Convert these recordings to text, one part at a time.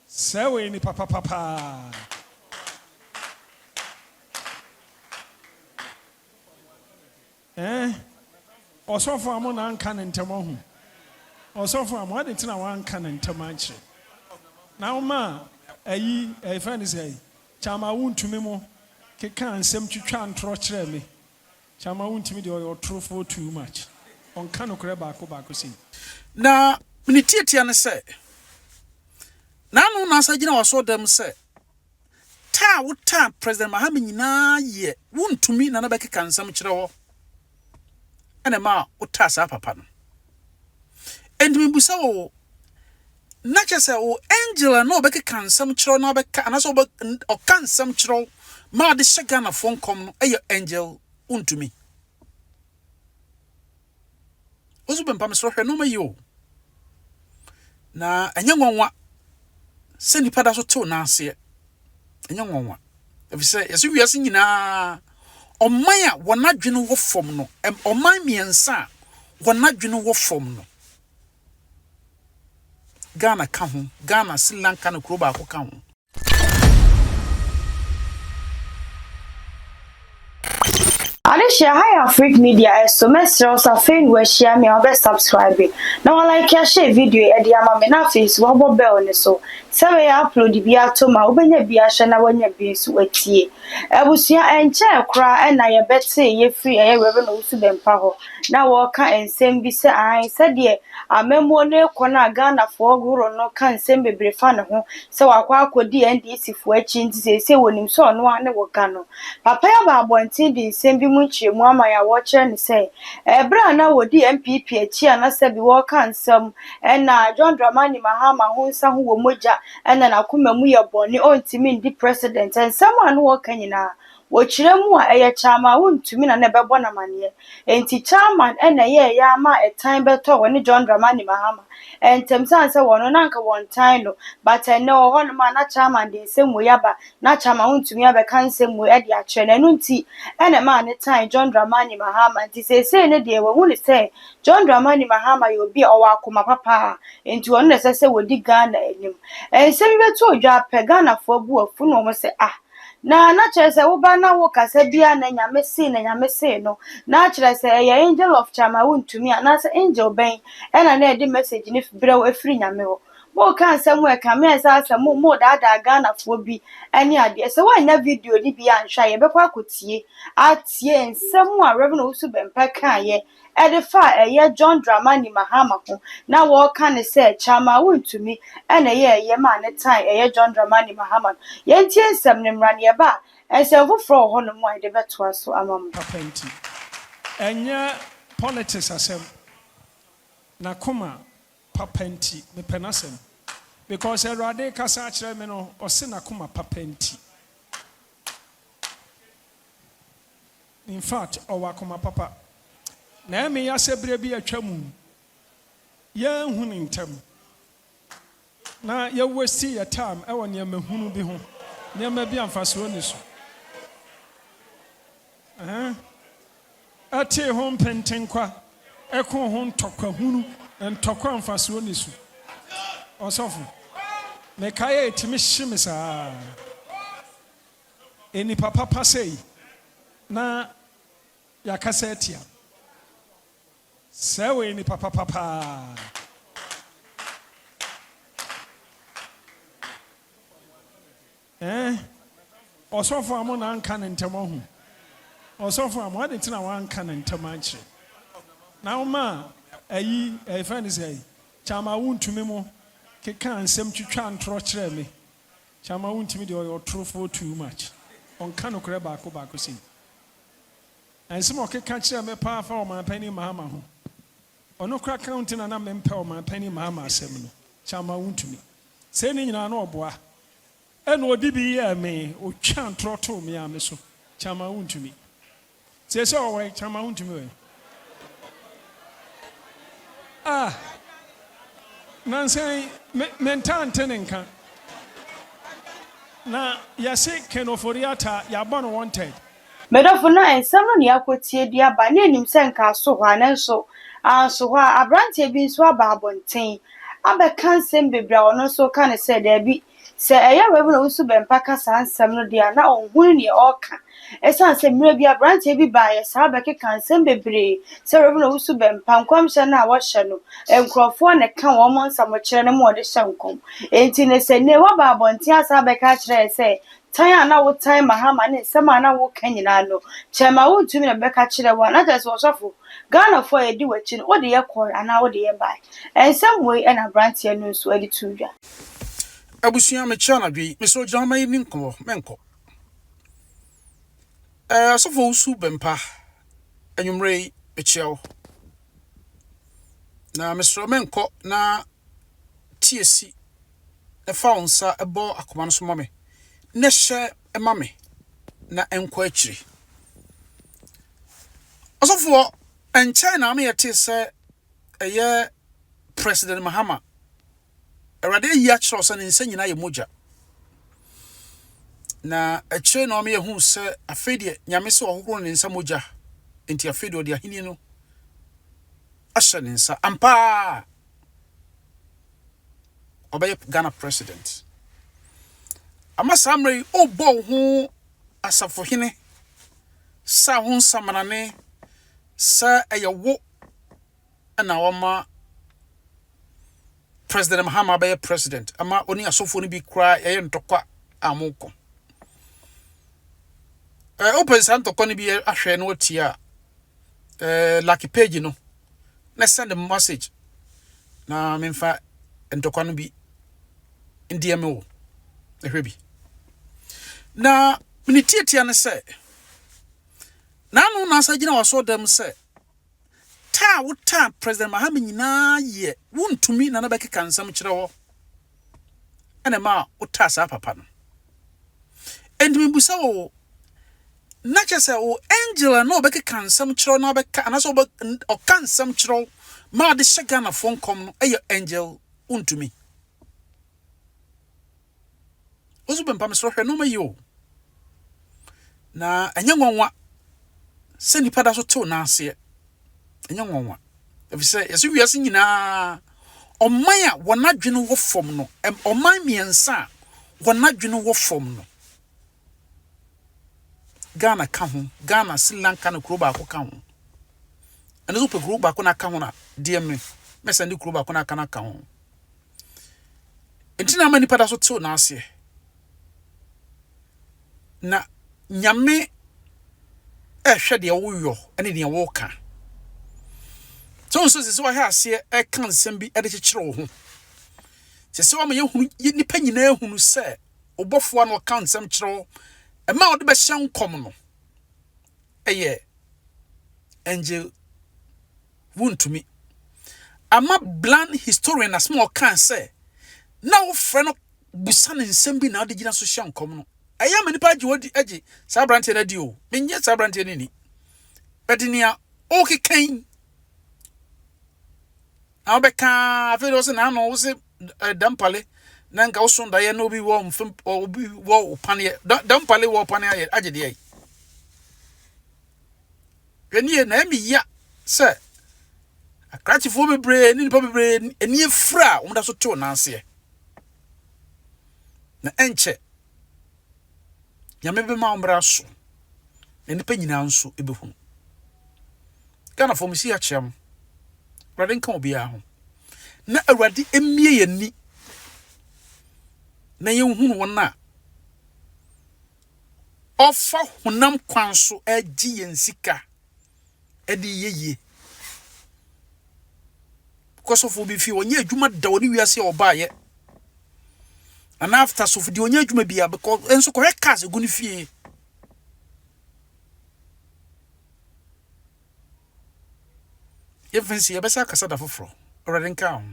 Sɛ wei ni papapa paa. Ɛɛ, eh, ɔsɔfo amo na anka ne ntɛm ahu. Ɔsɔfo amo adi nti na wanka ne ntɛm ankyerɛ. Na woma ayi ɛfɛ ne sɛ kyama wontumi mo keka nsɛm twitwa ntorɔ kyerɛ me. Kyama wontumi deɛ ɔyɛ ɔtorofoɔ too much ɔnka nokorɛ baako baako sei. Na ne tiatia ne sɛ, N'ano na asan gyina w'asɔɔdan mu sɛ, taa a wotaa President Mahama nyinaa yɛ wontumi Nana bɛkeka nsɛm kyerɛ hɔ na ɛma wotaa saa papa no. Enti mebisa wo, na kyerɛ sɛ wo angel a na ɔbɛkeka nsɛm kyerɛ wo na ɔbɛka anaasɛ ɔbɛ ɔka nsɛm kyerɛ wo ma ɔde hyɛ Ghanafoɔ nkɔm no yɛ angel wontumi wo nso bɛmpa me soro hwɛ nneɛma yi o na ɛnyɛ nwanwa sɛ nnipa da so tew nan aseɛ ɛnyɛ nwanwa efisɛ yɛsɛ wiase nyinaa ɔman a wɔn adwene wɔ fam no ɔman mmiɛnsa a wɔn adwene wɔ fam no Ghana ka ho. Ghana, Sri Lanka na kuro baako ka ho. Adehyia Hi Afrique Media ɛso mɛsrɛ wo sɛ afei ne wahyia me a wobɛ subscribe na wa like ahyɛ video yi ɛde ama me na afei nso wabɔ bell ne so sɛ wei a upload bi ato mu a wobɛnya bi ahwɛ na wanya bi nso atie abusua ɛnkyɛɛ koraa na yɛbɛte yɛfiri ɛyɛ Rev Owusu Bɛmpa hɔ. na wɔreka nsɛm bi sɛ ae sɛdeɛ amammuo no rekɔ no a Ghanafoɔ horoɔ no ka nsɛm bebree fa ne ho sɛ wakɔ akɔdi NDCfoɔ akyi nti seesei wɔnim sɛ ɔno ara ne wɔga no. Papa yi aba abɔnten de nsɛm bi mu nkyerɛmu ama yɛn a wɔkyerɛ ne sɛ ɛberɛ a na wɔdi NPP akyi a na sɛbi wɔreka nsɛm ɛna John Dramani Mahama ho nsa ho wɔ mogya ɛna n'akoma mu yɛ bɔne ɔntumi ndi President nsɛm a na wɔreka nyinaa Wɔ kyerɛ mu a, ɛyɛ Chairman Wontumi na na ɛbɛbɔ no amanneɛ. Enti Chairman na ɛyɛɛ ya ara maa ɛtan bɛtɔɔ wɔne John Dramani Mahama ntam sane sɛ wɔn no na anka wɔntan no but ɛnnɛ wɔ hɔnom a na Chairman de nsɛm wei aba na Chairman Wontumi abɛka nsɛm wei de akyerɛ no ɛno nti na ɛmaa no tan John Dramani Mahama nti seesei no deɛ wɔahu no sɛ John Dramani Mahama yɛ obi a ɔwɔ akoma pa paa enti ɔno na ɛsɛ sɛ wɔdi Ghana anim. Nsɛm yi bɛtɔɔ dwa pɛ Ghanafoɔ bo afu na wɔn sɛ ah Na na kyerɛ sɛ woba na wo kasa bia na nyame see na nyame see no na akyerɛ sɛ ɛyɛ angel of charm a wontumi anaasɛ angel bɛn ɛna na ɛde message no brɛ wo ɛfiri nyame hɔ moka nsɛm a ɛkame ɛsɛ asɛ mo mo daadaa Ghana foɔ bi ɛne adeɛ sɛ woannya video no bi anhwɛ a yɛbɛkɔ akɔtie atie nsɛm a Rev Owusu Bɛmpa kaeɛ de fa a ɛyɛ John Dramani Mahama ho na wɔreka no sɛ Kyama wontumi na ɛyɛɛ yam a ne tan ɛyɛ John Dramani Mahama no. Yɛntie nsɛm no mmra na yɛba a nsɛm foforɔ wɔ hɔnom a yɛde bɛtoa so ama mo. Papa nti. Ɛnyɛ politics asɛm. N'akoma papa nti. Mepɛ n'asɛm. Because Awurade rekasa akyerɛ me no, ɔse n'akoma papa nti. In fact, ɔwɔ akoma papa. Na ɛmee ya sɛ berɛ bi atwa mu no, yɛanhu ne ntam. Na yɛ waste yɛ time ɛwɔ nneɛma hunu bi ho, nneɛma bi a mfasoɔ nni so. Ɛtee ho mpentenkwa, ɛkoo ho ntɔkwa hunu, ntɔkwa a mfasoɔ nni so. Ɔsɔfo, mekae a ɛtumi hye me saa. Nnipa papa sei na yɛakasa atia. Sɛɛ wɔyɛ nnipa papa paa. Eh, ɔsɔfo a mo na anka ne ntɛm ahu. Ɔsɔfo a mo ade nti na wanka ne ntɛm ankyerɛ. Na woma ayi ɛfɛ ne sɛ kyama wontumi mo keka nsɛm twitwa ntorɔ kyerɛ me. Kyama wontumi deɛ ɔyɛ ɔtorofoɔ too much ɔnka nokorɛ baako baako sei na nsɛm a ɔkeka kyerɛɛ me paa fa ɔmanpanin Mahama ho ɔno koraa ka ho nti na na mempɛ ɔmanpanin Mahama asɛm no Kyama wontumi sei ne nyinaa na ɔboa ɛna ɔde bi yɛɛ me ɔtwaa ntorɔ too me ara me so Kyama wontumi. Tie sɛ ɔwɔ kyama wontumi wɔ Ah Nansan me me ntaa nte ne nka Na yɛse Ken Ofori-Atta yɛabɔ no wanted. Me dɔfo na nsɛm no nea akotie de aba na enim sɛ nka aso hɔ a nanso anso hɔ a aberanteɛ bi nso aba abɔnten abɛka nsɛm bebree a ɔno nso ka no sɛ daabi Sɛ ɛyɛ Rev. Owusu Bempah ka saa nsɛm no deɛ a, na ɔnhunu nea ɔreka. Ɛsiane sɛ mmerɛ bi aberanteɛ bi baeɛ saa bɛkekaa nsɛm bebree sɛ Rev. Owusu Bempah nkɔmhyɛ no a wɔhyɛ no nkurɔfoɔ na ɛka wɔn nsamokyerɛ no ma wɔde hyɛ nkɔm enti ne sɛ nnɛ woaba abɔnten asan abɛka akyerɛ yɛn sɛ tan a na wotan Mahama ne nsɛm a na woreka nyinaa no kyɛɛ ma wontumi na bɛka kyerɛ wo a na kyerɛ sɛ ɔsɔfo Ghanafoɔ a yɛdi w'akyi no wode yɛkɔe anaa wode yɛbae. Nsɛm wei na aberanteɛ no nso de too dwa. Abusua mekyɛ anadwo yi mesrɛ gyina hɔ ma yɛni nkɔmmɔ menkɔ ɛɛ asɔfo wusu bɛmpa anwummerɛ yi mekyɛ wo na mesrɛ menkɔ na tie si ɛfa wo nsa ɛbɔ akoma no so ma me na hyɛ ɛma me na ɛnkɔ akyiri ɔsɔfoɔ ɛnkyɛn na ama yɛte sɛ ɛyɛ president mahama Awurade ayi akyerɛ wo sɛ ne nsa nyinaa yɛ mogya. Na akyire na ɔma yɛhu sɛ afei deɛ Nyame sɛ ɔhohoro ne nsa mogya, nti afei deɛ ɔde ahenni no ahyɛ ne nsa. Ampaa ɔbɛyɛ Ghana president. Ama saa mmerɛ yi, wobɔ wo ho asafohene sɛ wo nsamanane sɛ ɛyɛ wo na wɔma president mahama bɛyɛ president ama oni asɔfoɔ no bi koraa yɛyɛ ntɔkwa a mokɔ ɛɛ eh, open saa ntɔkwa no bi ahwɛ no atie a ɛɛ eh, lucky page no na send a message na memfa ntɔkwa no bi ndeɛ me wo ɛhwɛ bi na mene tiatia ne sɛ n'ano na asa gyina wasɔ dɛm sɛ Taa a wo taa President Mahama nyinaa yɛ wo ntumi na na bɛkeka nsɛm kyerɛ hɔ ɛna ɛma wo taa saa papa no. Ɛnti me busa wo na kyɛ sɛ wo angel a na ɔbɛkeka nsɛm kyerɛ na ɔbɛka anasɛ ɔbɛ ɔka nsɛm kyerɛ ma ɔde hyɛ Ghana fo nkɔm no ɛyɛ angel wo ntumi. Wosu bɛmpa me soro hwɛ nneɛma yi o. Na ɛnyɛ nwanwa sɛ nipa da so tew n'aseɛ. Ɛnyɛ nwanwa. Efisɛ yɛsɛ wiase nyinaa ɔman a wɔn adwene wɔ fam no, ɔman mmiɛnsa a wɔn adwene wɔ fam no. Ghana ka ho, Ghana, Sri Lanka na kuro baako ka ho. Ɛno nso pɛ kuro baako na aka ho na deɛ me mɛsan de kuro baako na aka na aka ho. Nti na ama nnipa da so tew n'aseɛ. Na Nyame ɛhwɛ deɛ woyɔ ne deɛ woka. So nso sɛ sɛ wahwɛ aseɛ ɛka nsɛm bi de kyekyere wo ho. Sɛ sɛ wama yɛhunu nnipa nyinaa hunu sɛ ɔbɔfoɔ na ɔka nsɛm kyerɛ wo ɛma ɔde bɛhyɛ nkɔm no ɛyɛ angel Wontumi. Ama Bland historian asɛm a ɔkae sɛ, Na wofrɛ no bisa no nsɛm bi na ɔde gyina so hyɛ nkɔm no, ɛyɛ ma nnipa gye odi gye saa aberanteɛ no adi o. Mennye saa aberanteɛ no nni. Bɛde nea ɔrekeka yi na wobɛka afei de wo se n'ano wo se eh, dampale na nka woso daeɛ na obi wɔ mfem obi wɔ paneɛ dampale wɔ paneɛ agye deɛ yi Ɛnnie na ɛmi ya sɛ akrakyefoɔ bebree ne nipa bebree ani afira a wɔda so tew nan aseɛ. Na ɛnkyɛ nyame bɛma ɔmmra so na nipa nyinaa nso ɛbɛhunu. Ghanafoɔ mo si akyea mo. Awurade nka obiara ho. Na Awurade mmie yɛn ni na yɛnhunu wɔn a Ɔfa honam kwan so gye yɛn sika de yɛ yie. Kɔ sɔfo bi fie, ɔnyɛ adwuma da wɔ ne wiase a ɔbaeɛ. Anaa after sɔfo deɛ ɔnyɛ adwuma bia, nso kɔhwɛ cars ɛgu ne fie. Yɛmfa nsi, yɛbɛsan akasa da foforɔ. Awurade nka wo ho.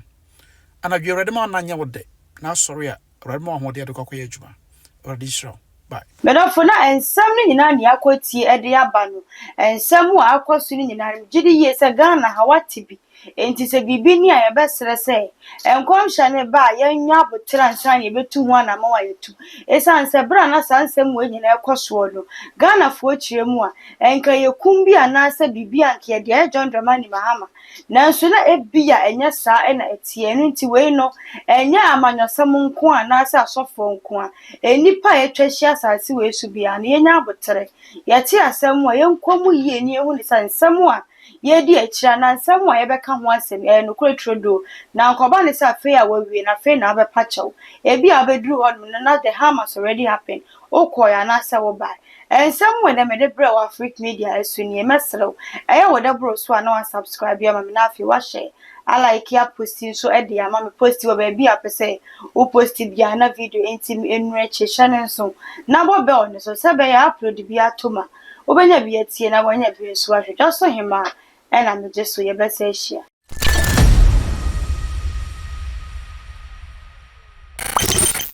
Anadwo yi, Awurade ma wo nna nyɛ wo dɛ, na asɔre a, Awurade ma wo ahoɔden a wode kɔ akɔyɛ adwuma. Awurade nhyira wo. Bye. M'adɔfo, na nsɛm no nyinaa nea akɔ atie de aba no, nsɛm a akɔ so no nyinaa no, megye di yie sɛ Ghana ha wɔate bi. Enti sɛ biribi ni a, yɛbɛsrɛ sɛ nkɔmhyɛ no reba a, yɛnyɛ aboterɛ ansa na yɛbɛtu ho anammɔn a yɛatu. Ɛsiane sɛ berɛ a na saa nsɛm wei nyinaa rekɔ soɔ no, Ghanafoɔ kyerɛ mu a, Anka ɛyɛ kum bi anaasɛ biribi a anka yɛde ayɛ John Dramani Mahama. Nanso na ebia ɛnyɛ saa na ɛteɛ. Ɛno nti wei no, ɛnyɛ amanyɔsɛm nko ara anaasɛ asɔfoɔ nko ara, nnipa a yɛatwa ahyia asase wei so biara no, yɛnya aboterɛ. Yɛte asɛm a, yɛnkɔ mu yie na yɛhunu sɛ nsɛm a yɛredi akyire anaa nsɛm a yɛbɛka ho asɛm yi, ɛyɛ nokorɛ turodoo. Na anka ɔba no sɛ afei a wawie no, afei na abɛpa kyɛw. Ebia abɛduru hɔnom no, na the harm has already happened. wokɔe anaasɛ wobae. Ɛyɛ nsɛm wei na mede brɛɛ wo Afrique Media so nie. Mɛsrɛ wo, ɛyɛ wo dɛ boro so a na woasubscribe ama me na afei woahyɛ alike aposti nso de ama me. Posti wɔ baabi a wopɛ sɛ wo posti biara na video nti me nnuru akyire. Hyɛ no nso na bɔ bell no so sɛ ɛbɛyɛ a upload biara atom a wobɛnya bi atie na woanya bi nso ahwɛ. Dwasohemaa na megye so. Yɛbɛsan ahyia.